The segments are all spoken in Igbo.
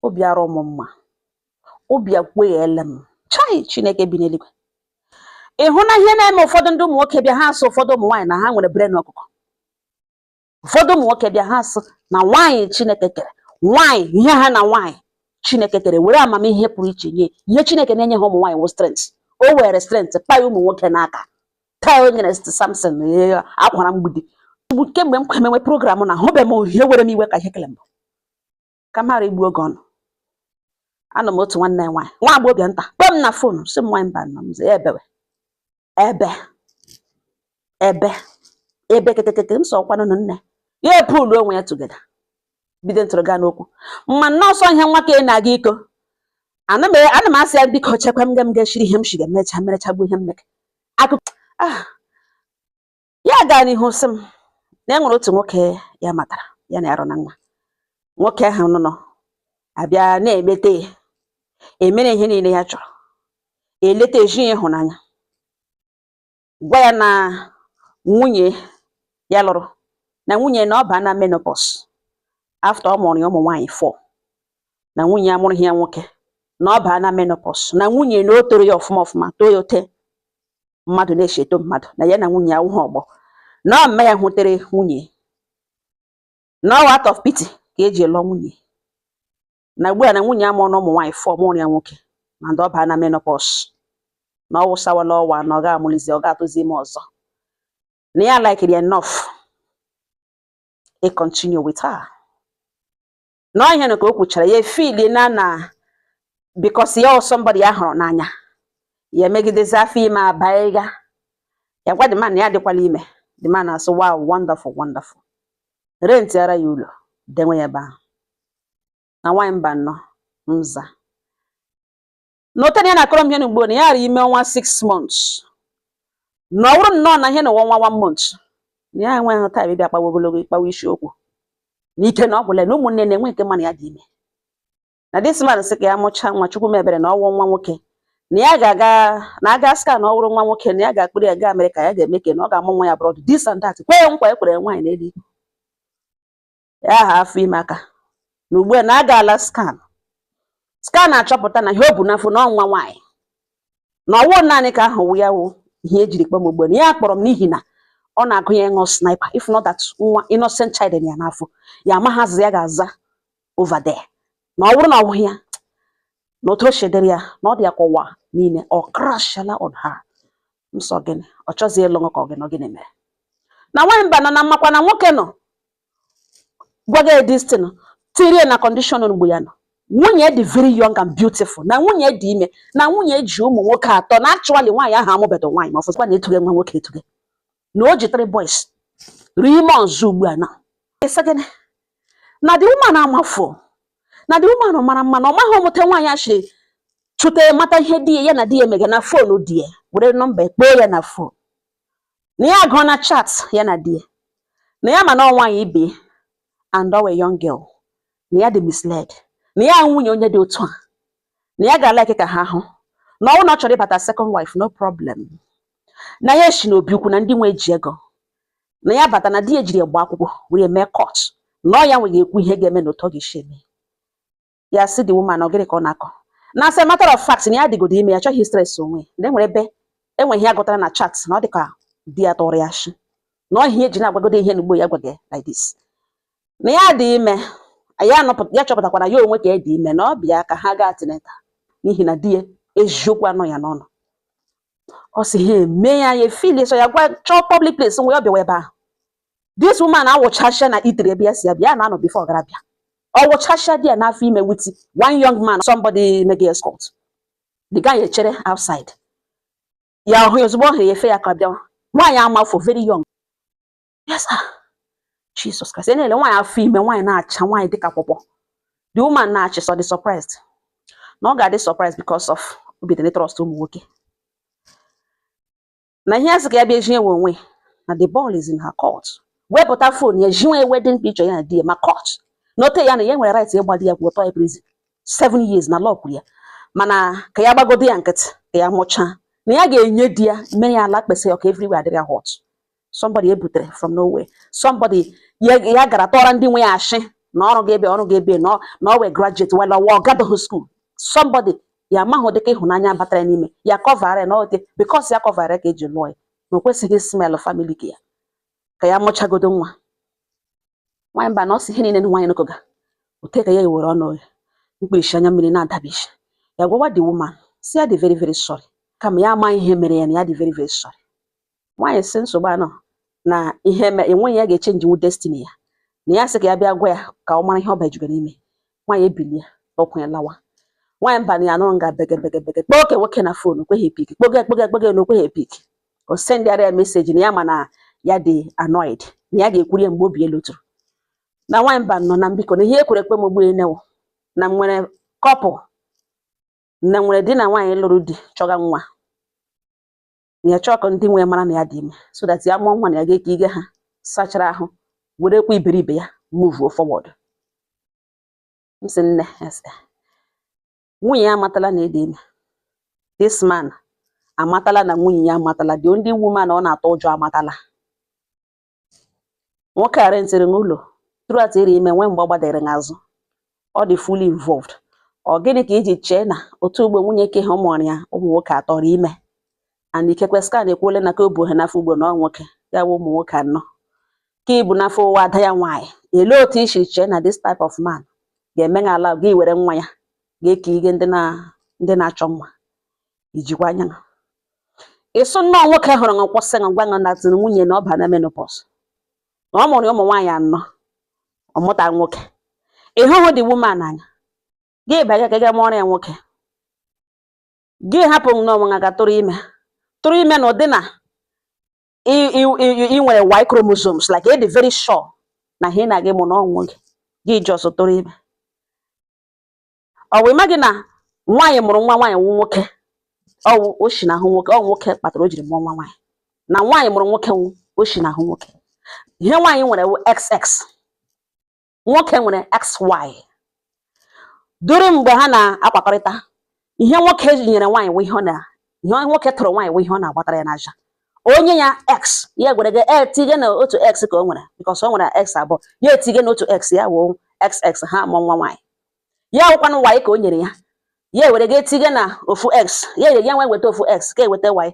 obi arọ m mma obi akweghele m chai chineke bi n'eluigwe ị hụna ihe na-eme ụfọdụ ndị ụmụ nwoke bịa ha asụ ụfọdụ ụmụ nwaanyị na ha nwere brain ọkụkọ ụfọdụ ụmụ nwoke bịa ha asụ na nwaanyị chineke kere nwaanyị ihe ha na nwaanyị chineke kere were amamihe pụrụ iche nye ihe chineke na-enye ha ụmụ nwaanyị wụ strength o were strength paa ụmụ nwoke n'aka taa o nyere samson akwara mgbidi kemgbe m kwemewe program na ahụbe m ihe were m iwe ka ihe kele mbụ ka m ghara igbu oge ọnụ anọ m otu nwanne nwaanyị nwa agbọghọbịa nta kpọọ m na fon sị m nwaanyị mbanọ m sị ya ebewe ebe ebe ebe kekekeke m sị ọ kwanụ nụ nne ya epulu onwe ya together bido ntụrụ gaa n'okwu mma nne ọ sọ ihe nwa ka ị na-aga ịkọ ana m ana m asị ya biko chekwa m ga m ga-eshiri ihe m shiga mecha merechagbu ihe m meke akụkọ ah ya gaa n'ihu sị m na e nwere otu nwoke ya matara ya na arụ na nwa nwoke ahụ nnọọ abịa na-emete ya emere ihe niile ya chọrọ eleta ezi ya ịhụnanya gwa ya na nwunye ya lụrụ na nwunye na ọ baana menopause after ọ mụrụ ya ụmụ nwaanyị four na nwunye amụrụghị ya nwoke na ọ baana menopause na nwunye na o toro ya ọfụma ọfụma too ya ote mmadụ na-esi eto mmadụ na ya na nwunye ya awụhụ ọgbọ na ọ mme ya hụtere nwunye na ọ wụ out of pity ka e ji lụọ nwunye na ugbu a na nwunye amụrụna ụmụ nwaanyị four amụrụghị ya nwoke and ọ baana menopause na ọ wụsawala ọwa na ọ ga-amụlizi ọ ga-atụzi ime ọzọ na ya likiri enough e continue with her na ọ ihe na ka o kwuchara ya efili na na because ya ọ somebody ya hụrụ n'anya ya emegidezi afọ ime abaiga ya gwa the man ya adịkwala ime the man asụ wow wonderful wonderful rentiara ya ụlọ dewe ya ebe ahụ na nwaanyị mbanọ m za na ote na ya na-akọrọ m ihe na ugbu na ya arị ime ọnwa six months na ọ bụrụ nnọọ na ihe na ọnwa one month na ya enweghị time ịbịa kpawa ogologo ịkpawa isiokwu na ike na ọ gwụla na ụmụnne na-enwe nke mana ya dị ime na this man sị ka ya mụchaa nwa chukwu mebere na ọwụ nwa nwoke na ya ga-aga na aga scan na ọ wụrụ nwa nwoke na ya ga-akpọrọ ya gaa Amerịka ya ga-eme ka na ọ ga-amụ nwa ya abroad this and that kwee nkwa e kwere nwaanyị n'elu ikpe ya aha afọ ime aka na ugbu a na a gaala scan scan achọpụta na ihe o bu n'afọ na ọ nwa nwaanyị na ọwụ naanị nke ahụ wụ ya wụ ihe e jiri kpọọ m ugbu na ya kpọrọ m n'ihi na ọ na-agụ ya ịṅụ sniper if not that nwa innocent child ya n'afọ ya amaghị azịza ya ga-aza over there na ọ bụrụ na ọ bụghị ya na otu o shi dịrị ya na ọ dị ya ka ụwa niile ọ crashala on her m sị ọ gịnị ọ chọzie ịlụ nwoke ọ gịnị ọ gịnị mere na nwaanyị mbanọ na mmakwa na nwoke nọ gwaga this thing tirie na condition mgbe ya nọ nwunye dị very young and beautiful na nwunye dị ime na nwunye ji ụmụ nwoke atọ na actually nwaanyị ahụ amụbedo nwaanyị ma ọfụzikwa na etuge nwa nwoke etuge na o ji three boys three months ugbu a na esegene na the woman amafọ na the woman mara mma na ọ maghị ọmụta nwaanyị achị chụta mata ihe di ya na di ya emega na fon di ya were nọmba kpọọ ya na fon na ya agụọ na chat ya na di ya na ya ma na ọ nwaanyị ibe and ọ wụ young girl na ya dị misled na ya nwunye onye dị otu a na ya ga-alike ka ha hụ na ọ wụ na ọ chọrọ ịbata second wife no problem na ya eshi n'obi ukwu na ndị nwe ji ego na ya bata na di ya jiri gba akwụkwọ were mee court na ọ ya nwe ga-ekwu ihe ga-eme na otu ọ ga-esi eme ya si the woman ọ gịnị ka ọ na-akọ na as a matter of fact na ya dịgodo ime ya chọghị stress onwe na enwere ebe e nwe ihe ya gụtara na chat na ọ dị ka di ya tọrọ ya shi na ọ ihe eji na-agwagodo ihe n'ugbu ya gwaga like this na ya dị ime ya chọpụtakwara ya onwe ka ya dị ime na ọ bịa ka ha gaa tineta n'ihi na di ya eziokwu anọ ya n'ọnụ ọ sị ha eme ya ya efili so ya gwa chọọ public place nwe ọ bịawa ebe ahụ this woman awụchasịa na itere ebe ya si abịa ya na-anọ before ọ gara bịa ọ wụchasịa there n'afọ ime with one young man somebody mega escort the guy echere outside ya ọ hụ ya ozugbo ọ hụ ya efe ya aka bịawa nwaanyị amafọ very young yes sir Jesus Christ na-ele nwaanyị afọ ime nwaanyị na-acha nwaanyị dịka pọpọ the woman na-ashị so ị dị surprised na ọ ga-adị surprised because of obi dị trust ụmụ nwoke na ihe a sị ka ya bịa zi ya onwe na the ball is in her court wepụta fon ya ziwe wedding picture ya na di ya ma court note ya na ya nwere right ịgba di ya akwụkwọ tụọ ya prison seven years na law kwuru ya mana ka ya gbagodo ya nkịtị ka ya mụchaa na ya ga-enye di ya mee ya ala kpesị ọka everywhere adịrị ya hot somebody ebutere from nowhere somebody ya gara tọọrọ ndị nwe ya ashị na ọ rụga ebe ọ rụga ebe na ọ wụ graduate while ọ gadoghị school somebody ya amaghị ụdịka ịhụnanya batara n'ime ya kọvara na okay because ya kọvara ka eji lụọ ya na o kwesịghị smell family ka ya ka ya mụchagodo nwa nwaanyị mba na ọ sị ihe niile nwaanyị nụkọga ote ka ya ewere ọnụ ya mkpirisi anya mmiri na-adabishi ya gwawa the woman si ya dị very very sorry kama ya ama ihe mere ya na ya dị very very sorry nwaanyị si nsogbu anọ na ihe me enweghị ya ga-echenji wụ destiny ya na ya sị ka ya bịa gwa ya ka ọ mara ihe ọ bajugoro ime nwaanyị ebilie ọkwụ ya lawa nwaanyị mba na ya nọrọ nga bege bege bege kpọọ nke nwoke na fon o kweghị epik kpọge kpọge kpọge na o kweghị epik o sendịara ya meseji na ya ma na ya dị annoyed na ya ga-ekwuri ya mgbe obi elu tụrụ na nwaanyị mba nọ na biko na ihe ekwere ekwe m ugbu enewo na m nwere kọpụ na m nwere di na nwaanyị lụrụ di chọga nwa na ya chọọ ka ndị nwe mara na ya dị ime so that ya mụọ nwa na ya ga-eke ige ha sachara ahụ werekwa iberibe ya muvuo forward m sị nne ese nwunye ya amatala na ị dị ime this man amatala na nwunye ya amatala the only woman ọ na-atụ ụjọ amatala nwoke a rentịrị ṅụ ụlọ throughout ị rị ime nwee mgbe ọ gbadere n'azụ ọ dị fully involved ọ gịnị ka i ji chee na otu ugbu a nwunye ke a mụụrụ ya ụmụ nwoke atọ rị ime and ikekwe scan ekwuole na ke o bu ha n'afọ ugbu a na ọ nwoke ya bụ ụmụ nwoke anọ ke i bu n'afọ ọ wụ ada ya nwaanyị elee otu i si chee na this type of man ga-eme na ala gị were nwa ya ga-eke ige ndị na ndị na-achọ nwa i jikwa anya ị sị nnọọ nwoke hụrụ ṅụ kwụsị ṅụ gwa ṅụ na tiri nwunye na ọ ba na menopause na ọ mụrụ ụmụ nwaanyị anọ ọ mụta nwoke ị hụhụ the woman anya gị banye ka ị ga mụọrọ ya nwoke gị hapụ onwe gị tụrụ ime tụrụ ime n'ụdị na ị nwere y chromosomes like ị dị very sure na ihe ị na-aga ịmụ na ọ nwoke gị just tụrụ ime ọ wụ ị maghị na nwaanyị mụrụ nwa nwaanyị wụ nwoke ọ wụ o si n'ahụ nwoke ọ nwoke kpatara o jiri mụọ nwa nwaanyị na nwaanyị mụrụ nwoke wụ o si n'ahụ nwoke ihe nwaanyị nwere wụ xx nwoke nwere xy duru mgbe ha na-akpakọrịta ihe nwoke nyere nwaanyị wụ ihe ọ na ihe nwoke tụrụ nwaanyị wụ ihe ọ na-agbatara ya n'ahịa o nye ya x ya ewere ga etige na otu x ka o nwere because o nwere x abụọ ya etige na otu x ya wụ xx ha mụọ nwa nwaanyị ya wụkwanụ y ka o nyere ya ya ewere ga etige na ofu x ya ere ya nwee weta ofu x ka eweta y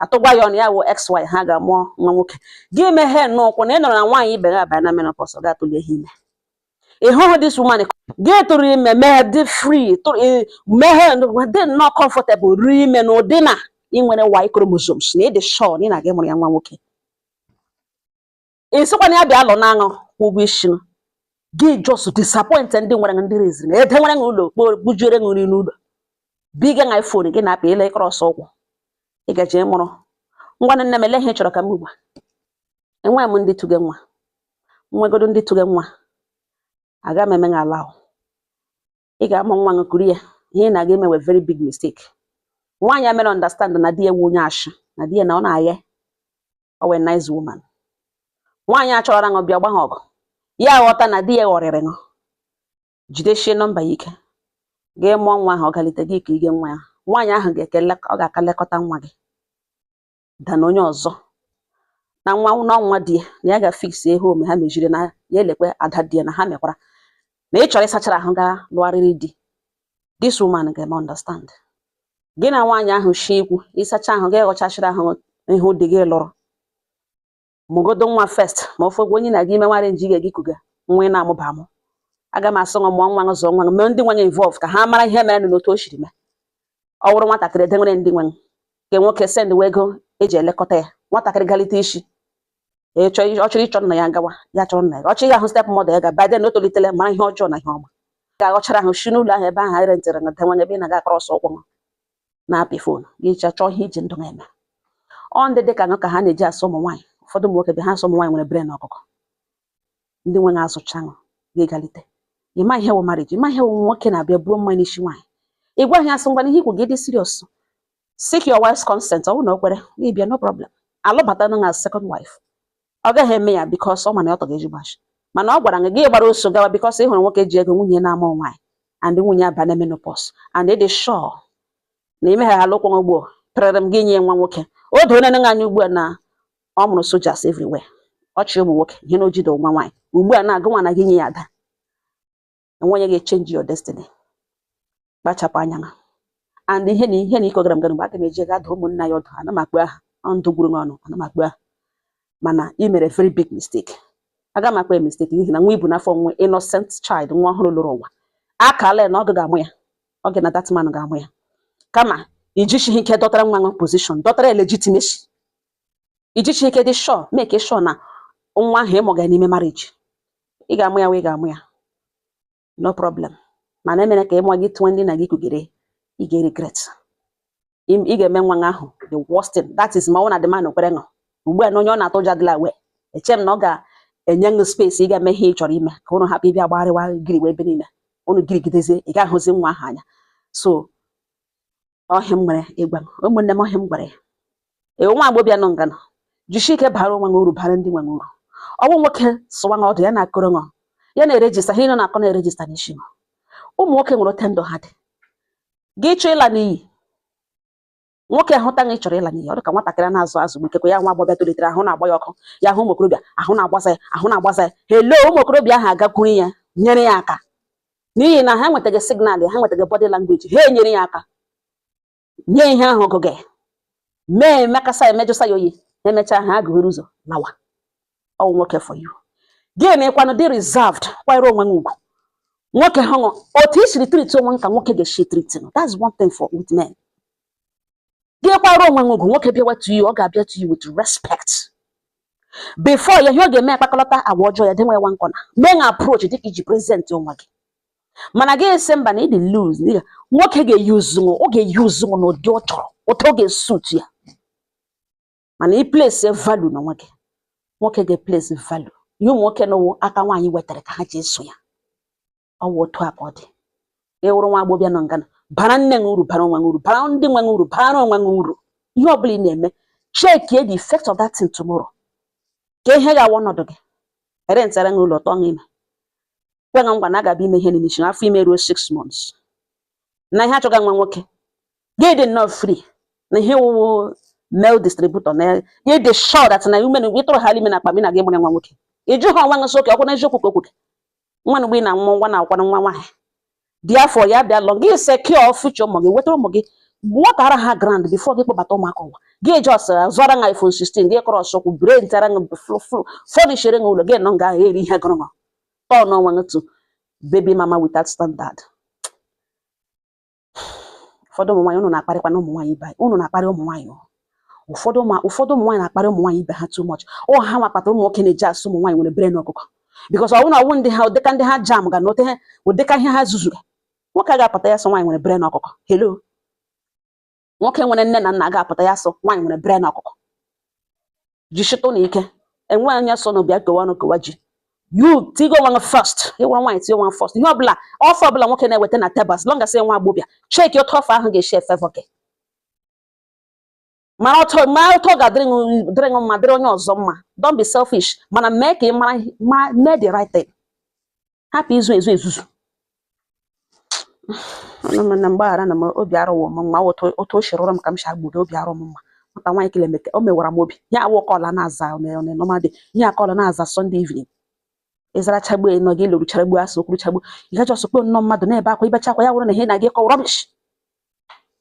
atụgwa ya ọnụ ya wụ xy ha ga-amụọ nwa nwoke gị meghe n'ụkwụ na ị nụrụ na nwaanyị ibe gị abanye na menopause ọ ga-atụlihi ime ị hụhụ this woman gị tụrụ ime meghe dị free meghe dị nnọọ comfortable tụrụ ime n'ụdị na ị nwere y chromosomes na ị dị sure na ị na-aga ịmụrụ ya nwa nwoke ị sịkwa na ya bịa lụọ ṅụ kwụọ ụgwọ isi ṅụ gị just disappoint ndị nwere ndị reziri ṅụ ede nwere ụlọ kpo bujiere gị nri n'ụlọ biga ṅụ iphone gị na-apị ele ị cross ụkwụ ị gaje ịmụrụ ngwa nne m ele ihe ị chọrọ ka m ugbu a enweghị m ndị tụge nwa nwegodo ndị tụge nwa aga m eme gị ala ahụ ị ga-amụ nwa gị kuru ya ihe ị na-aga eme wụ very big mistake nwaanyị a mere understand na di ya wụ onye ashị na di ya na ọ na-aghe ọ wụ nice woman nwaanyị a chọrọ ṅụ bịa gba ha ọgụ ya ghọta na di ya ghọrịrị ṅụ jideshie nọmba ya ike gị mụọ nwa ahụ ọ galite gị ka ige nwa ya nwaanyị ahụ ga-eke ọ ga-aka lekọta nwa gị dana onye ọzọ na nwa na nwa di ya na ya ga-afiksi ihe ome ha mejiri na ya elekwa ada di ya na ha mekwara na ị chọrọ ịsachara ahụ ga lụgharịrị di this woman ga-eme understand gị na nwaanyị ahụ shi ikwu ịsacha ahụ ga-eghọchachiri ahụ ihu di gị lụrụ mụgodo nwa first ma ofe gwa onye na-aga ime nwara nji ga gị kuga nwa ị na-amụba amụ aga m asị ngwa mụọ nwa zụọ nwa mee ndị nwanye involve ka ha mara ihe mere na otu o siri mee ọ wụrụ nwatakịrị edewere ndị nwe nke nwoke sendiwe ego eji elekọta ya nwatakịrị galite sị ọ chọrọ ịchọ nna ya gawa ya chọrọ nna ya ọ chọrọ ịga ahụ step mother ya ga by then o tolitere mara ihe ọjọọ na ihe ọma ga-aghọchara ahụ si n'ụlọ ahụ ebe ahụ anyị rentịrị na denwanye ebe ị na-aga akọrọ ọsọ ụkwụ na-apị phone gị chọọ chọọ ihe iji ndụ ha eme ọ ndị dị ka ṅụ ka ha na-eji asị ụmụ nwaanyị ụfọdụ ụmụ nwoke be ha asị ụmụ nwaanyị nwere brain ọkụkọ ndị nwe ṅụ azụchaa ṅụ gị galite ịma ihe wụ marriage ịma ihe wụ nwoke na-abịa buo mmanya n'isi nwaanyị ị gwaghị ya sị ngwa ihe ikwu gị dị serious seek your wife's consent ọ bụrụ na o kwere gị bịa no problem alụbata ṅụ second wife ọ gaghị eme ya because ọ ma na ya ọtọ ga-eji gbashi mana ọ gwara gị gị gbara ọsọ gawa because ị hụrụ nwoke ji ego nwunye na-amụ nwaanyị and nwunye aba na menopause and ị dị sure na imeghala ụkwụ ugbo pịrịrịm gị nye nwa nwoke o doona ṅụ anya ugbu a na ọ mụrụ soldiers everywhere ọ chị ụmụ nwoke ihe na ojide nwa nwaanyị ugbu a na-agụ nwa na gị nye ya ada enwe onye ga-echenji your destiny kpachapụ anya ṅụ and ihe na ihe na iko gara gara mgbe aga m eji ga adụ ụmụnna ya ọdụ ana m akpọ aha ndụ gwuru m ọnụ ana m akpọ aha mana ị mere very big mistake aga m akpọ ya mistake n'ihi na nwa i bu n'afọ wụ innocent child nwa ọhụrụ lọrọ ụwa akala na ọ gị ga-amụ ya ọ gị na that man ga-amụ ya kama ijichighị ike dọtara nwa ahụ position dọtara legitimacy ijichighị ike dị sure make sure na nwa ahụ ịmụ ga n'ime marriage ị ga-amụ ya wụ ị ga-amụ ya no problem mana emere ka ịmụọ gị tụọ ndị na gị kugere ị ga-regret ị ga-eme nwa ahụ the worst thing that is ma ọ wụ na the man kwere ṅụ ugbu a na onye ọ na-atụ ụjọ adịla aware eche m na ọ ga-enye ṅụ space ị ga-eme ihe ị chọrọ ime ka ụnụ hapụ ịbịa gbagharịwa giriwe ebe niile ụnụ girigidezie ị ga-ahụzi nwa ahụ anya so ọ ihe a m nwere ịgwa gị ụmụnne m ọ ihe a m gwara ya ee nwa agbọbịa nọ nga nọ jisie ike bara onwe gị uru bara ndị nwe gị uru ọ wụ nwoke sụwa na ọdụ ya na-akọrọ ṅụ ya na-erejista ihe ị nọ na-akọ na-erejista n'isi ṅụ ụmụ nwoke nwere otu ndụ ha dị gị chọọ ịla n'iyi nwoke ahụta na ị chọrọ ịla n'iyi ọ dị ka nwatakịrị a na-azụ azụ gbikekwa ya nwa agbọbịa tolitere ahụ na-agba ya ọkụ ya hụ ụmụ okorobịa ahụ na-agbasa ya ahụ na-agbasa ya hello ụmụ okorobịa ahụ agakwuru ya nyere ya aka n'ihi na ha enwetaghị signal ya ha enwetaghị body language ha enyere ya aka nye ihe ahụ ọgụgụ mee emekasa emejụsa ya oyi emechaa ha agụghịrị ụzọ lawa ọ wụ nwoke for you gịnwa kwanụ dị reserved kwanyere onwe ṅụ ugwu nwoke hụṅụ otu i siri treat onwe ṅụ ka nwoke ga-esi treat that's one thing for with men gị kwara onwe gị ugwu nwoke bịawa to you ọ ga-abịa to you with respect before ya ihe ọ ga-eme akpakọlọta agwa ọjọọ ya denwe nwa na corner mee na approach dịka i ji present onwe gị mana gị esi mba na ị dị loose nwoke ga-eyuzu ọ ga-eyuzu n'ụdị ọ chọrọ otu ọ ga-esut ya mana ị place value n'onwe gị nwoke ga-eplesi value ihe ụmụ nwoke na ọ wụ aka nwaanyị wetara ka ha ji eso ya ọ wụ otu a ka ọ dị ị wụrụ nwa agbọbịa nọ ngana bara nne gị uru bara onwe gị uru bara ndị nwe gị uru bara onwe gị uru ihe ọbụla ị na-eme chekie the effect of that thing tomorrow ka ihe ga-awụ ọnọdụ gị erentara gị ụlọ tụọ gị ime kwe gị nkwa na a gaba ime ihe n'isi afọ ime ruo six months na ihe a chọga nwa nwoke gị dị nnọọ free na ihe ị wụ wụ male distributor na gị dị sure that na ume na gị tụrụ ha ime na akpa gị na gị mụrụ nwa nwoke ịjụ ha nwa gị sị oke ọkwụ na eziokwu ka okwu gị nwa mgbe ị na-amụ nwa na-awụkwanụ nwa nwaanyị therefore ya bịa lụọ gị secure future ụmụ gị wetara ụmụ gị nwetara ha ground before gị kpọbata ụmụaka ụwa gị just zụọra nga iphone 16 gị kọrọ ọsọkwụ erentara nga fọnishere nga ụlọ gị nọ nga eri ihe gụrụ turn onwe gị to baby mama without standard ụfọdụ ụmụ nwaanyị ụnụ na-akparịkwanụ ụmụ nwaanyị ibe ụnụ na-akparị ụmụ nwaanyị o. ụfọdụ ụmụ ụfọdụ ụmụ nwaanyị na-akparị ụmụ nwaanyị ibe ha too much ọ ha nwa kpatara ụmụ nwoke na-eji asị ụmụ nwaanyị nwere brain ọkụkọ because ọ wụ na ọ wụ ndị ha ụdịka ndị ha jam ga na ote ha ụdịka ihe ha zuzuru nwoke a ga-apụta ya sị nwaanyị nwere brain ọkụkọ hello nwoke nwere nne na nna ga-apụta ya sị nwaanyị nwere brain ọkụkọ jisitụnụ ike enwe anya so na bịa kewa ọnụ kewa ji you tighe onwe gị first ị wụrụ nwaanyị tinye onwe gị first ihe ọbụla offer ọbụla nwoke na-eweta na table as long as nwa agbọbịa cheki otu offer ahụ ga-esi efavour gị mara otu ma otu ọ ga-adịrị dịrị gị mma dịrị onye ọzọ mma don't be selfish mana mee ka ị mara mee the right thing hapụ izu ezu ezuzu ụmụnna m gbaghara nụ m obi arụwo m mma otu otu o si rụrụ m ka m si agbudo obi arụ m mma nwata nwaanyị kele meke o mewara m obi ya awụ kọla na-aza normal day ihe akọla na-aza Sunday evening ị zara chagbu ị nọ gị lụrụ chagbu asụ okwuru chagbu ị ga just kpọọ nnọọ mmadụ na-ebe akwa i bechaa akwa ya wụrụ na ihe na-aga ịkọ rubbish